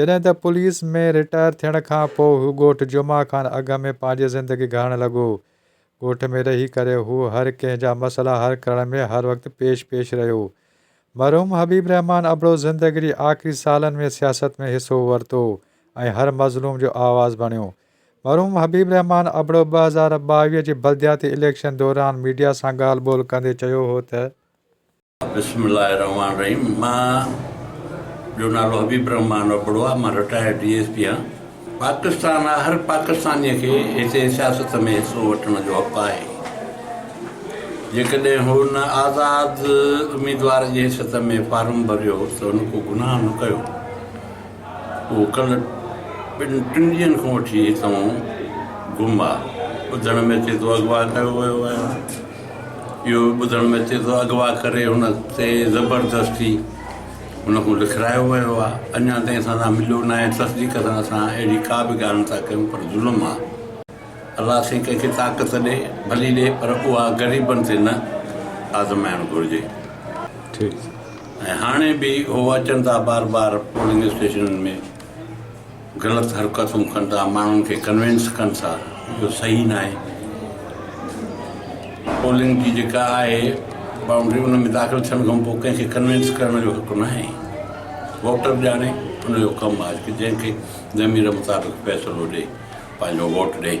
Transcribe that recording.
جڏهن ته police ۾ retire ٿيڻ کان پوء هو ڳوٺ جمعه خان اگهه ۾ پنهنجي زندگي گهارڻ لڳو. ڳوٺ ۾ رهي ڪري هو هر ڪنهن جا مسئلا حل ڪرڻ ۾ هر وقت پيش پيش رهيو. مرحوم حبيب رحمان ابڙو زندگي جي آخري سالن ۾ سياست ۾ حصو ورتو ۽ هر مظلوم جو آواز بڻيو. مرحوم حبيب رحمان ابڙو ٻه هزار ٻاويهه جي بلدياتي اليڪشن دوران ميڊيا سان ڳالهه ٻولهه ڪندي چيو هو ته، بسم الله الرحمٰن الرحيم مان جو نالو حبيب الرحمٰن ابڙو آ مان رٽائرڊ ڊي ايس پي آهيان پاڪستان آ هر پاڪستاني کي هتي سياست ۾ حصو وٺڻ جو حق آهي جيڪڏهن هو نه آزاد اميدوار جي حيثيت ۾ فارم ڀريو ته هن ڪو گناهه نه ڪيو هو ڪل ٻن ٽن ڏينهن کان وٺي هتون گم آ ٻڌڻ ۾ اچي ٿو اغوا ڪيو ويو آهي اهو به ٻڌڻ ۾ اچي ٿو اغوا ڪري هن تي زبردستي هن کان لکرايو ويو آهي اڃا تائين اسان سان مليو ناهي تصديق سان اسان اهڙي ڪا به ڳالهه نٿا ڪيون پر ظلم آهي الله سائين ڪنهن کي طاقت ڏي ڀلي ڏي پر اها غريبن تي نه آزمائڻ گهرجي ٺيڪ ۽ هاڻي به هو اچن ٿا بار بار پولنگ اسٽيشنن ۾ غلط حرڪتون ڪن ٿا ماڻهن کي ڪنوينس ڪن ٿا اهو صحيح ناهي پولنگ جي جيڪا آهي بائونڊري ان ۾ داخل ٿيڻ کان پوء ڪنهن کي ڪنوينس ڪرڻ جو حق ناهي ووٽر ڄاڻي ان جو ڪم آهي ته جنهن کي ضمير مطابق فيصلو ڏي پنهنجو ووٽ ڏي.